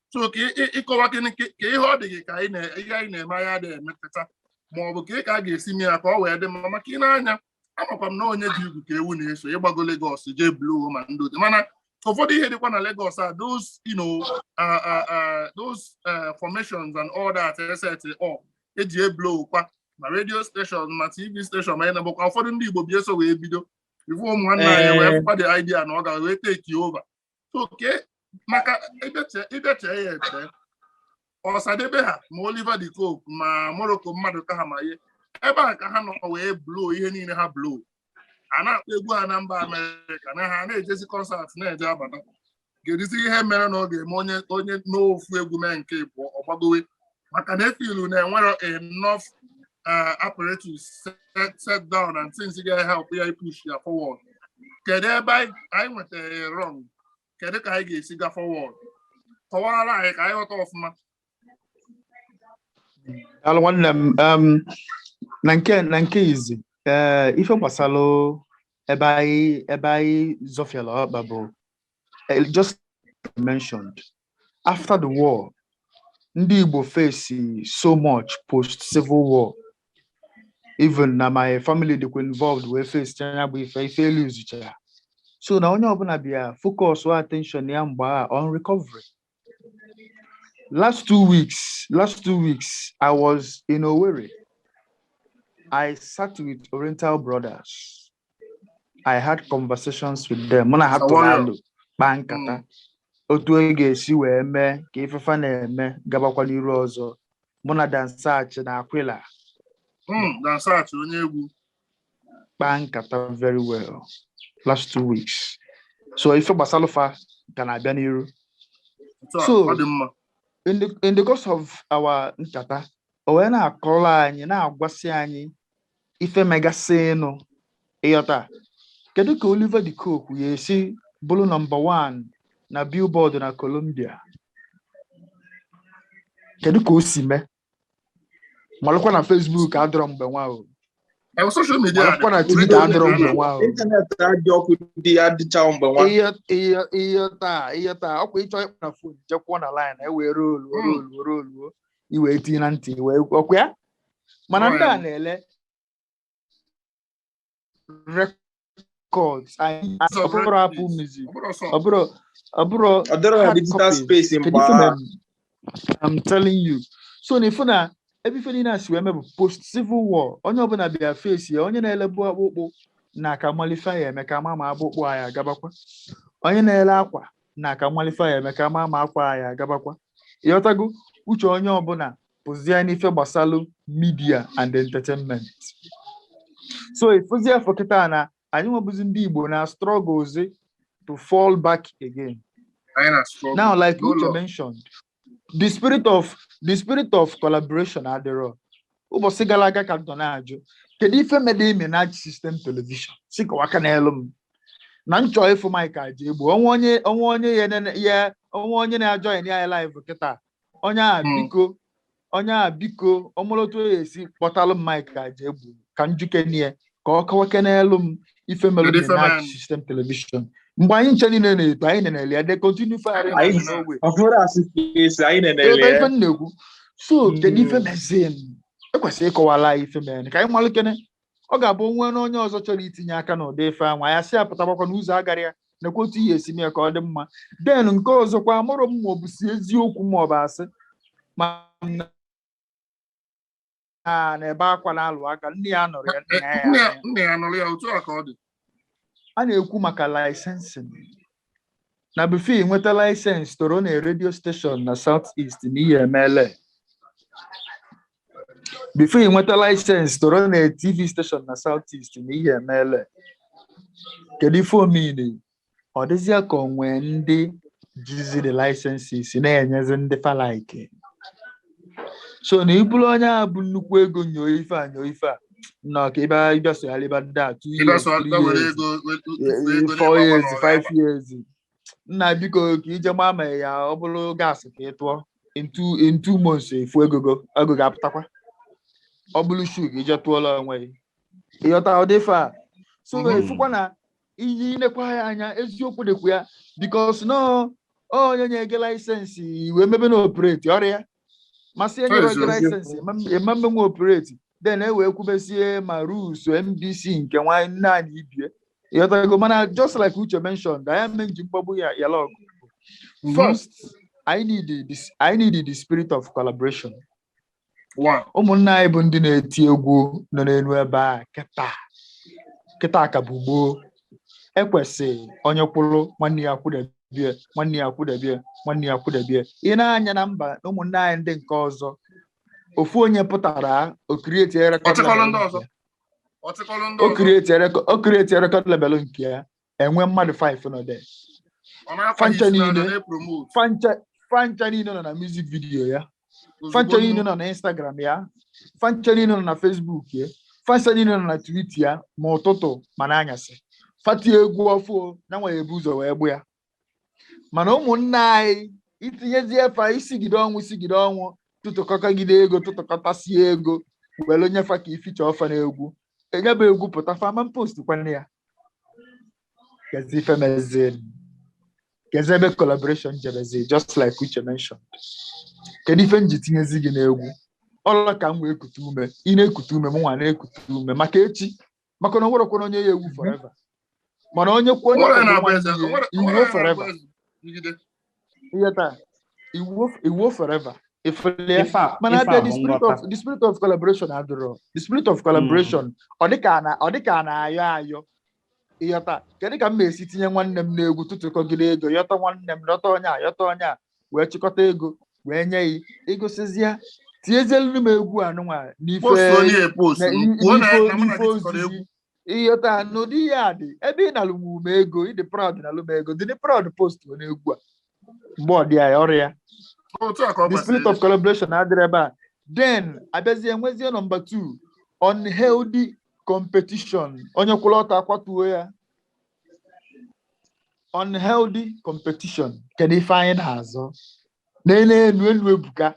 so ka ịkọwa gịnị ka ihe ọ dị gị ka ihe anyị na-eme anyị adị emepụta ma ọ bụ ka ị ka a ga-esi mee ya ka ọ wee dị mma maka ị na-anya amakwa m na onye ji egwu ka ewu na-eso ịgbago Lagos jee blow ma ndị otu mana ụfọdụ ihe dịkwa na Lagos a those you know those formations and all that e set up eji eblow kwa ma radio station ma TV station ma ịnabụkwa ụfọdụ ndị Igbo bi eso wee bido ifu ụmụ nwanne anyị wee fụkwa the idea na ọ ga wee take over oke maka ị bịa chee ya eche Osadebe ha ma Oliver de Coque ma Morocco Maduka ha ma ihe ebe a ka ha nọ wee blow ihe niile ha blow a na-akpọ egwu ha na mba Amerịka na ha na-ejezi concert na-eje abata kedụzi ihe mere na ọ ga-eme onye onye n'ofu egwu mee nke ịbụọ ọ gbagowe maka na e feel na enwerọ enough uh, apparatus set, set down and things ga-help ya ipush ya forward kedu ebe anyị anyị nwetara ya wrong kedu ka anyị ga-esi ga forward kọwaara anyị ka anyị ghọta ọfụma Daalụ nwanne m um, na nke na nke izi ee ife gbasalụ ebe anyị ebe anyị zọfiala ọkpa bụ eh, just mentioned after the war ndị Igbo face so much post civil war even na my family dịkwa involved wee facechaa nya bụ ife ife eluzucha ya so na onye ọbụla bịa focus wa attention ya mgbe a on recovery last two weeks last two weeks I was in Owerri I sat with Oriental Brothers I had conversations with them mụ na ha tụrụ Sawayo. alụ kpaa nkata Mm. otu e ga-esi wee mee ka ife fa na-eme gabakwa n'iru ọzọ mụ na Dan Satch na Aquila Mm, Dan Satch onye egwu kpaa nkata very well last two weeks so ife gbasalụ fa ka na-abịa n'iru otu a, So- ọ dị mma in the in the course of our nkata o wee na-akọrọ anyị na-agwasị anyị ife megasịnụ ị ghọta kedu ka Oliver de Coque ya-esi bụrụ number 1 na Billboard na Colombia kedu ka o si mee malụkwa na Facebook adịrọ mgbe nwa o Ewu social media malụkwa na Twitter adịrọ mgbe nwa o internet adị ọkụ dị ya dịchawo mgbe nwa ihe ihe ihe taa ihe taa ọ kwa ị chọọ ịkpọ na phone jee kwụọ na line e wee rolu rolu rolu i wee tinye na ntị i wee ọkwa ya mana ndị a na-ele records anyị It's a ọbụrụ record. Apple Music Ọ bụrụ sọ. ọbụrụ ọbụrụ Ọ dịrọ na hard digital copy. space Kedu mgbe ife ahụ. mere? I'm telling you so na ifu na ebe ife niile a si wee mee bụ post civil war onye ọbụla bịa face ya onye na-elebu akpụkpụ na ka malụ ife ya eme ka a ma ma akpụkpụ ya agabakwa onye na-ele akwa na ka malụ ife ya eme ka a ma ma akwa ya agabakwa ịghọtago uche onye ọbụla pụzie n'ife gbasalụ media and entertainment so ị fụzie afọ kịta na anyịnwa bụzi ndị Igbo na-strugglezi to fall back again now like Uche mentioned the spirit of the spirit of collaboration adịrọ ụbọchị gara aga ka m nọ na-ajụ kedu ife medụ Minaj System Television sị kọwakenelụ m na m chọ ịfụ Mike Ajegbo o nwee onye o nwee onye ya nene- ya o nwee onye na-ajoin anyị live kịta onye a Hmm. biko onye a biko ọ malụ etu a ya-esi kpọtalụ m Mike Ajegbo ka m jụkenie ka ọ kọwakenelụ m ife mere Kedu ife mere? Minaj System Television mgbe anyị ncha niile na-eto anyị na-ele ya de continue fari na Anyị- n'ogbe ọ bụrụ asị ka esi anyị ebe na-enele ife m na-ekwu so kedu ife Mm. mezinụ e kwesịrị ịkọwalụ anyị ife mere ka anyị malụkene ọ ga-abụ o nwee na onye ọzọ chọrọ itinye aka n'ụdị ife anwa ya sị apụtagbakwa n'ụzọ agara ya nakwa otu ị ya-esi mee ka ọ dị mma then nke ọzọkwa amarọ m ma ọ bụ sị eziokwu ma ọ bụ asị nwa na-ebe akwa na-alụ aka nne ya anọrọ ya nne ya ya nna ya nọrọ ya otu a ka ọ dị a na-ekwu maka licensing na before i nweta license to run a radio station na South East na ihe emele before i nweta license to run a TV station na South East na ihe emele kedu ife ọ meanị ọ dịzịa ka o nwee ndị jizi the licenses na-enyezi ndị fa like so na ị bụrụ onye a bụ nnukwu ego nyoo ife a nyoo ife a nọ ka ịba ịbịa sogharịba ndị a two Ebe years sọ three ga were years ego were tufu eh, ego four n'ịgba years bọọlụ five ọrụ years nna biko ka i je gba ma ya ọ bụrụ gas ka ị tụọ in two in two months ị fụ ego ego ga-apụtakwa ọ bụrụ shoe ka i je tụọlụ onwe gị ịghọta ụdị ife a so Mhm. ị fụkwa na inye i nekwa ya anya eziokwu dịkwa ya because na onye nye gị license i wee mebe na-operate ọrịa masị enye Ezi gị ozi. license ema mmenwe operate then e wee kwubesie ma rules NBC nke nwanyị nne anyị ibie ịghọtago mana just like Uche mentioned anyị ame nji mgbagbu ya yala ọgụ first I need the, I need the spirit of collaboration One. ụmụnna anyị bụ ndị na-eti egwu nọ n'elu ebe a kịta kịta ka bụ gboo ekwesị onye kwụrụ nwanne ya kwụdebie nwanne ya kwụdebie nwanne ya kwụdebie ị nee anya na mba na ụmụnne anyị ndị nke ọzọ ofu onye pụtara o create rekọd Ọchịkọrọ ndị ọzọ. Ọchịkọrọ ndị ọzọ. o create rekọd lebelụ nke ya e nwee mmadụ 5 nọ there Ọ na-akwa fa ncha isi n'ala niile. na-epromote. fa ncha fa ncha niile nọ na music video ya Ozugbo fa ncha nnu. niile nọ na instagram ya fa ncha niile nọ na facebook ya fa ncha niile nọ na twitter ya ma ụtụtụ ma n'anyasị fa tie egwu ọfụụ fa nwa ebu ụzọ wee gbụ ya mana ụmụnne anyị i tinyezie fa i sigide ọnwụ i sigide ọnwụ tụtụkọtagide ego tụtụkọtasie ego were nye fa ka i feature fa na egwu nya bụ egwu pụta fa ama post kwana ya Kezi ife mezi. Kezi ebe collaboration jebezi just like Uche mentioned. Kedu ife m ji tinyezi gị n'egwu? Ọla ka m wee kute ume. Ị na-ekute ume, mụ nwa na-ekute ume maka echi. Maka na o nwerọkwana onye ya-ewu forever. Mana onye kwa onye Onwere kwado na-abụ nwanne eze, ya, onwere- i wuo onwere na-abụ forever. eze. Jigide. ịghọta i wuo forever ị fụla mana a bịa the spirit of the spirit of collaboration adịrọ the spirit of collaboration hmm. ọ dịka na ọ dịka a na-ayọ ayọ ịghọta kedu ka m na-esi tinye nwanne m n'egwu tụtụkọgide ego yọta nwanne m yọta onye a yọta onye a wee chịkọta ego wee nye gị ị gụsịzịa tinyezielu m egwu a nụnwa n'ife ịghọta ha n'ụdị ihe a dị ebe ị nalụbu m ego ị dị proud nalụ m ego dịnụ proud postnụ egwu a mgbe ọ dị ya ya ọrịa otu a ka ọ the spirit gbasara of collaboration adịrọ ebe a then a bịazie nwezie nọmba 2 unhealthy competition onye kwụrụ ọtọ akwatuo ya unhealthy competition kedu ife anyị na-azọ n'elu elu elu ebuka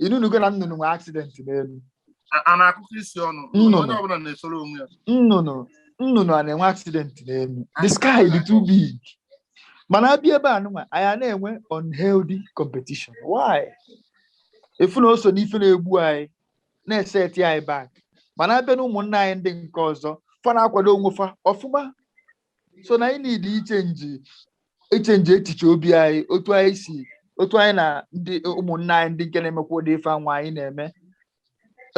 ị nụnugo na nnụnụ nwee aksidenti n'elu A- a na-akụkọ isi ọnụ Nnụnụ. onye ọbụla na-esoro onwe ya nnụnụ nnụnụ a na-enwe aksidenti n'elu the sky dị too big mana a bịa ebe a nụnwa anyị a na-enwe unhealthy competition why ị fụ na o so n'ife na-egbu anyị na-eseti anyị back mana a bịa na ụmụnna anyị ndị nke ọzọ fa na-akwado onwe fa ọfụma so na anyị need ichenji ichenji echiche obi anyị otu anyị si otu anyị na ndị ụmụnne anyị ndị nke na-emekwa ụdị ife anwa anyị na-eme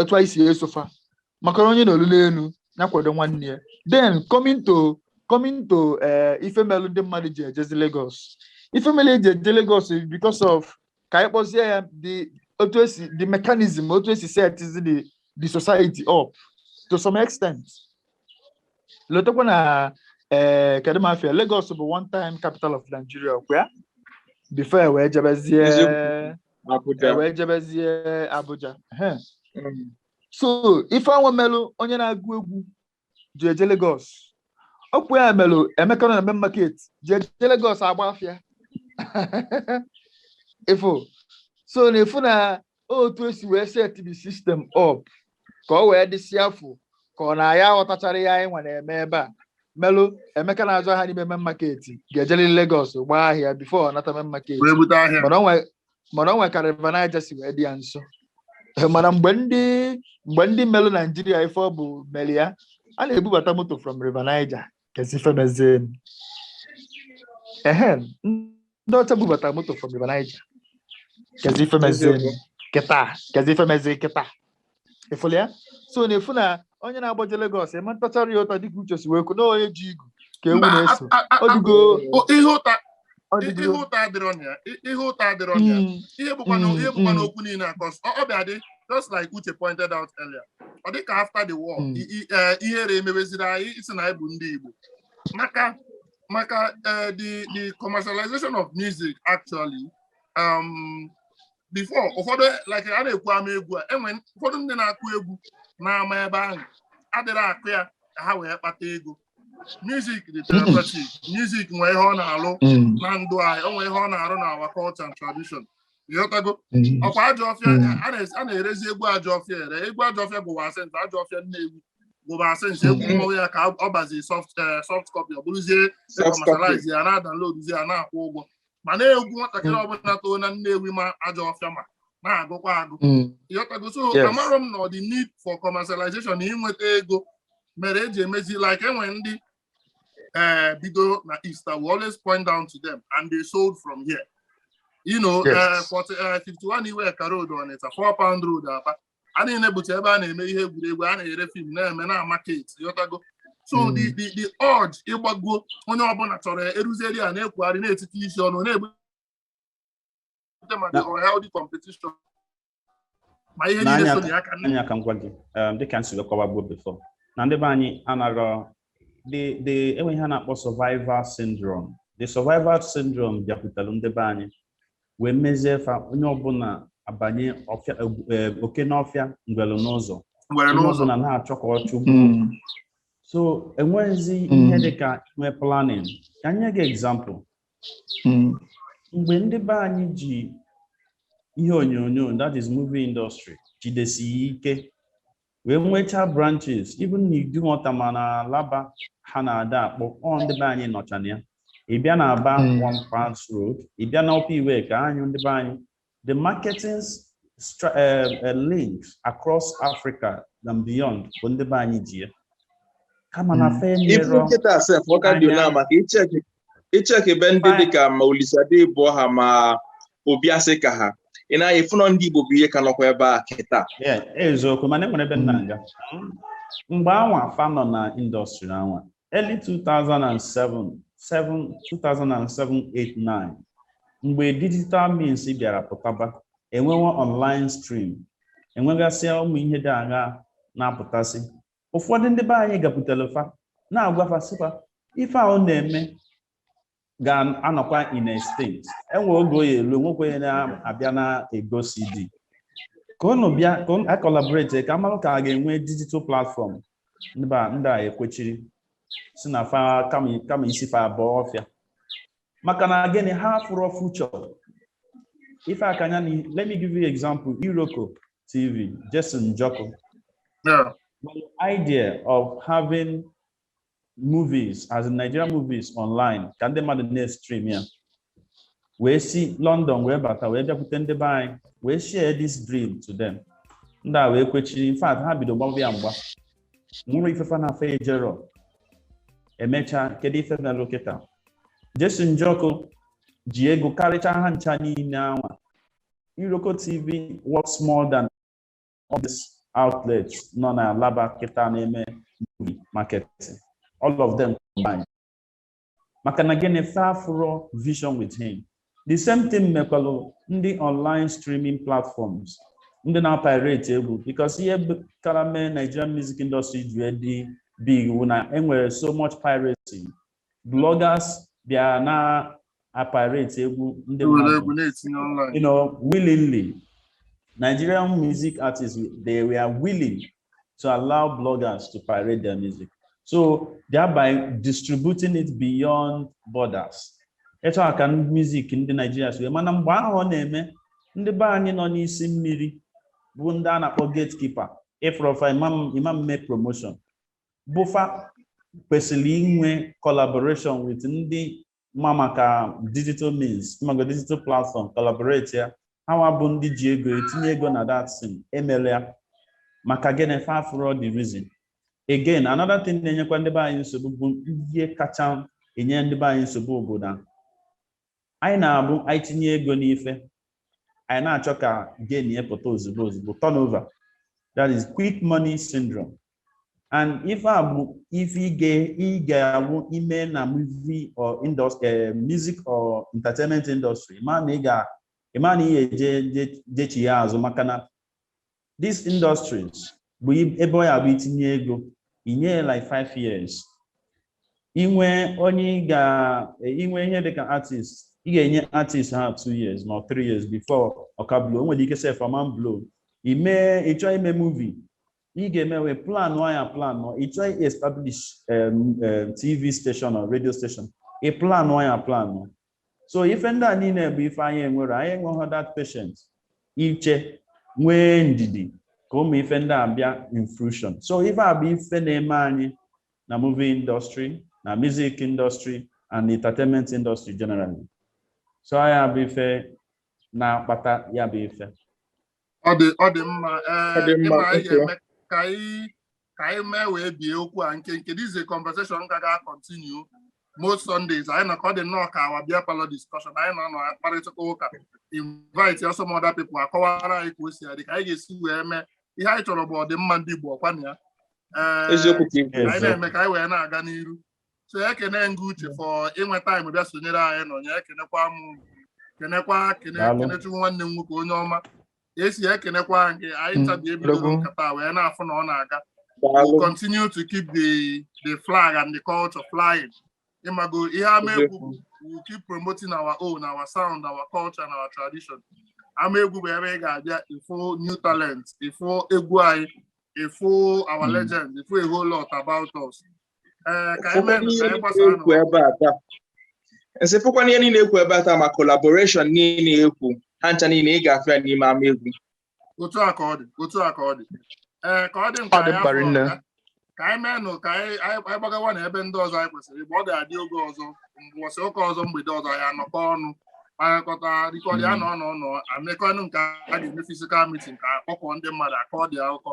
otu anyị si eso fa maka na onye nọlụ n'elu ya kwado nwanne ya then coming to coming to eh, ife melụ ndị mmadụ ji ejezi Lagos ife melụ e ji eje Lagos is because of ka anyị kpọzie ya the otu esi the mechanism otu esi setizi the the society up to some extent lotekwa na ee kedu m afịa Lagos bụ one time capital of Nigeria ọkwa ya before e wee jebezie Eziokwu. e Abuja. wee jebezie Abuja Ehe. Mm. so ife anwa melụ onye na-agụ egwu ji eje Lagos ọkwa ya mere Emeka nọ na main market ji eje Lagos agba afịa ifo so na-afụ na otu esi wee set the system up ka ọ wee dịsị afọ ka ọ na ya ghọtachara ya anyị nwa na-eme ebe a melụ Emeka na-azụ ahịa n'ime main market ga-ejeliri Lagos gbaa ahịa before ọ nata main market mana ọ nwe mana o nwe ka River Niger si wee dị ya nso eh, mana mgbe ndị mgbe ndị melụ Nigeria ife ọ bụ mere ya a na-ebubata moto from River Niger kezi ife mezie ehe ndị ọcha bubata moto from River Niger kezi ife mezie kịta kezi ife mezie kịta ịfụlụ ya so na-afụ na onye na-agbaje Lagos a ma-atachara ya ụta dịka Uche si wee kwu na onye ji igu ka ewu Mba, na-eso a- a- a- ọ dịgo o- ihe ụta ọ ihe dịgo ụta adịrọ na ya i- ihe ụta adịrọ na ya Mm, ihe bụkwa na mm, ihe bụkwa na mm. okwu niile a cause ọ ọ bịa dị just like Uche pointed out earlier ọ dị ka after the war Mm. i- i- eh, ihere emebeziri anyị ịsị na anyị bụ ndị Igbo maka maka eh, the the commercialization of music actually um, before ụfọdụ like a na-ekwu ama egwu a enwe ụfọdụ ndị na-akụ egwu n'ama ebe ahụ adịrọ akụ ya ka ha wee kpata ego music dị therapeutic music nwee ihe ọ na-alụ Mm, na ndụ anyị o nwee ihe ọ na-arụ na our culture and tradition ịghọtago mm, ọkwa ajọ ọfịa Mm. a na- a na-erezi egwu ajọ ọfịa ere egwu ajọ ọfịa bụbu ancient ajọ ọfịa Nnewi bụbu ancient egwu Mm. mmanwụ ya ka ọ bazi soft eh, soft copy ọ bụrụzie Soft copy. commercialize ya na-adownloadzi ya na-akwụ ụgwọ mana egwu nwatakịrị ọbụla too na Nnewi ma ajọ ọfịa ma na-agụkwa agụ ịghọtago so amarọ m na the need for commercialization na ịnweta ego mere eji emezi like enwe ndị ee bido na East I will always point down to them and they sold from here you know, yes. uh, 40, uh, 51 Iweka Road Onitsha, four Pound Road, uh, a niile bụcha ebe a na-eme ihe egwuregwu a na-ere film na-eme na market ịghọtago so hmm. the the the urge ịgbago onye ọbụla chọrọ ya eruzeri a na-ekwugharị na-etiti isi ọnụ na-ebute maka unhealthy competition ma ihe niile so ya aka nne ka m gwa gị um, dịka m si wee kọwaa gboo before na ndị be anyị anaghị the the enwe ihe a na-akpọ survival syndrome the survival syndrome bịakwutalụ ndị be anyị wee mezie fa onye ọbụla abanye eh, oke n'ọfịa ngwele n'ụzọ ngwele n'ụzọ onye ọbụla na-achọ ka ọ chụgbu Mm. so enweghịzi Mm. ihe dịka inwe planning ka m nye gị example Mm. mgbe ndị be anyị ji ihe onyonyo that is movie industry jidesi ya ike wee nwechaa branches even na Idumota ma na Alaba ha na-ada akpọ ọ ndị be anyị nọcha na ya ị bịa na Aba Mm. one Pound Road ị bịa na Upper Iweka anyị ndị be anyị the marketing stra- eh, eh, links across africa and beyond bụ ndị be anyị ji ya kama na Mm. fe even ruo kịta sef ọ ka dị Anya. na maka icheki ị check ebe ndị dịka ma Olisa Adibua ha ma Obi Asika ha ị na-aya ịfụ na ọ ndị Igbo bụ ihe ka nọkwa ebe a kịta eziokwu mana enwere ebe m na-aga mgbe anwa fa nọ na industry anwa early 2007-8-9 mgbe digital means bịara pụtaba enwewa online stream enwegasịa ụmụ ihe dị agha na-apụtasị ụfọdụ ndị be anyị gakwutara fa na-agwa fa sị fa ife a unu na-eme ga-anọkwa in extinct enwe oge ọ ya-elu nwekwa onye na-abịa na-ego CD ka unu bịa ka a collaborate ka amalụ ka a ga-enwe digital platform ndị a ekwechiri sị na fa kama isi fa abụọ ọfịa maka na gịnị ha afụrọ future ife a ka m nye let me give you example iroko tv Jason Njoku Yeah. the idea of having movies as in nigerian movies online ka ndị mmadụ na-stream ya wee si london wee bata wee bịakwute ndị be anyị wee share this dream to them ndị a wee kwechie in fact ha bido gbaba ya mgba nwụrụ ife fa na afọ ejerọ emechaa kedu ife melụ kịta Jason Njoku ji ego karịcha ha ncha niile anwa iroko tv worth more than all these outlets nọ na alaba kịta na-eme movie marketing all of them combined maka na gịnị fa afụrọ vision with him the same thing mekwalụ ndị online streaming platforms ndị na-apirate egwu because ihe kara mee Nigerian music industry ji dị big wụ na enwere so much piracy bloggers bịa na-apirate egwu ndị mmadụ willingly Nigerian music artists they were willing to allow bloggers to pirate their music. So thereby distributing it beyond borders. Etu a ka music ndị Naijiria si wee mana mgbe ahụ ọ na-eme ndị be anyị nọ n'isi mmiri bụ ndị a na-akpọ gatekeeper ị fụrọ fa ị ma eme promotion bụ fa kwesịrị inwe collaboration with ndị ma maka digital means maka digital platform collaborate ya ha nwa bụ ndị ji ego etinye ego na that thing emela ya maka gịnị fa afụrọ the reason again another thing na-enyekwa ndị be anyị nsogbu bụ ihe kacha enye ndị be anyị nsogbu obodo anyị na-abụ anyị tinye ego n'ife anyị na-achọ ka gain ya pụta ozugbo ozugbo turnover that is quick money syndrome and ife a bụ ife ị ga- ị ga-awụ ime na movie or industry eh, music or entertainment industry ma na ị ga ịma na ị ga-eje je- jechi ya azụ maka na these industries bụ i- ebe ọ ya-abụ itinye ego inye ya like five years inwe onye ị ga eh, inwe ihe dịka artist ị ga-enye artist ha two years ma ọ three years before ọ ka blow o nwere ike sef ama blow ime ị chọọ ime movie ị ga-eme wee planụ anya planụ ị chọọ establish em, em, tv station or radio station ị planụ anya planụ so ife ndị a niile bụ ife anyị enwerọ anyị enweghị that patient iche nwee ndidi ka ụmụ ife ndị a bịa in fruition so ife a bụ ife na-eme anyị na movie industry na music industry and entertainment industry generally so ya bụ ife na-akpata ya bụ ife ọ dị ọ dị mma ee Ọ dị mma, ịma anyị okay. ga-eme ka anyị ka anyị mee wee bie okwu a nke nke this is a conversation ga ga continue most Sundays anyị nọ ka ọ dị nnọọ ka our beer parlour discussion anyị nọ na-akparịta ụka invite ya some other people akọwara anyị ka o si adị ka anyị ga-esi wee mee ihe anyị chọrọ bụ ọdịmma ndị Igbo ọkwa na ya Ee, eziokwu ka i kwuru anyị na-eme ka anyị wee na-aga n'iru so ekene m gị Uche for inwe time bịa sonyere anyị na ya ekenekwa m kenekwa kene Daalụ. Kenechukwu nwanne m nwoke onye ọma esi ekenekwa gị anyị Mm, tabi ebido Odogwu. nkata wee na-afụ na ọ na-aga Daalụ. we continue to keep the the flag and the culture flying ị mago ihe Ama Egwu bụ we will keep promoting our own our sound our culture and our tradition Ama Egwu bụ ebe ị ga-abịa ịfụ new talent ịfụ egwu anyị ịfụ our Mm. legend ịfụ a whole lot about us and sị fụkwa na ihe niile ekwu ebe a taa ma collaboration niile ekwu ha ncha niile ị ga-afụ ya n'ime Ama Egwu otu a ka ọ dị otu a ka ọ dị ee ka ọ dị mkpa ya ka anyị meenụ ka anyị gbagawa na ebe ndị ọzọ anyị kwesịrị ịgba ọ ga-adị oge ọzọ mbọsị ụka ọzọ mgbede ọzọ ya-anọkọ ọnụ kpakọta rikọrị ya na ọnụ ọnụ amekọnụ nke a ga-eme physical meeting ka a kpọkọọ ndị mmadụ akọ dị akụkọ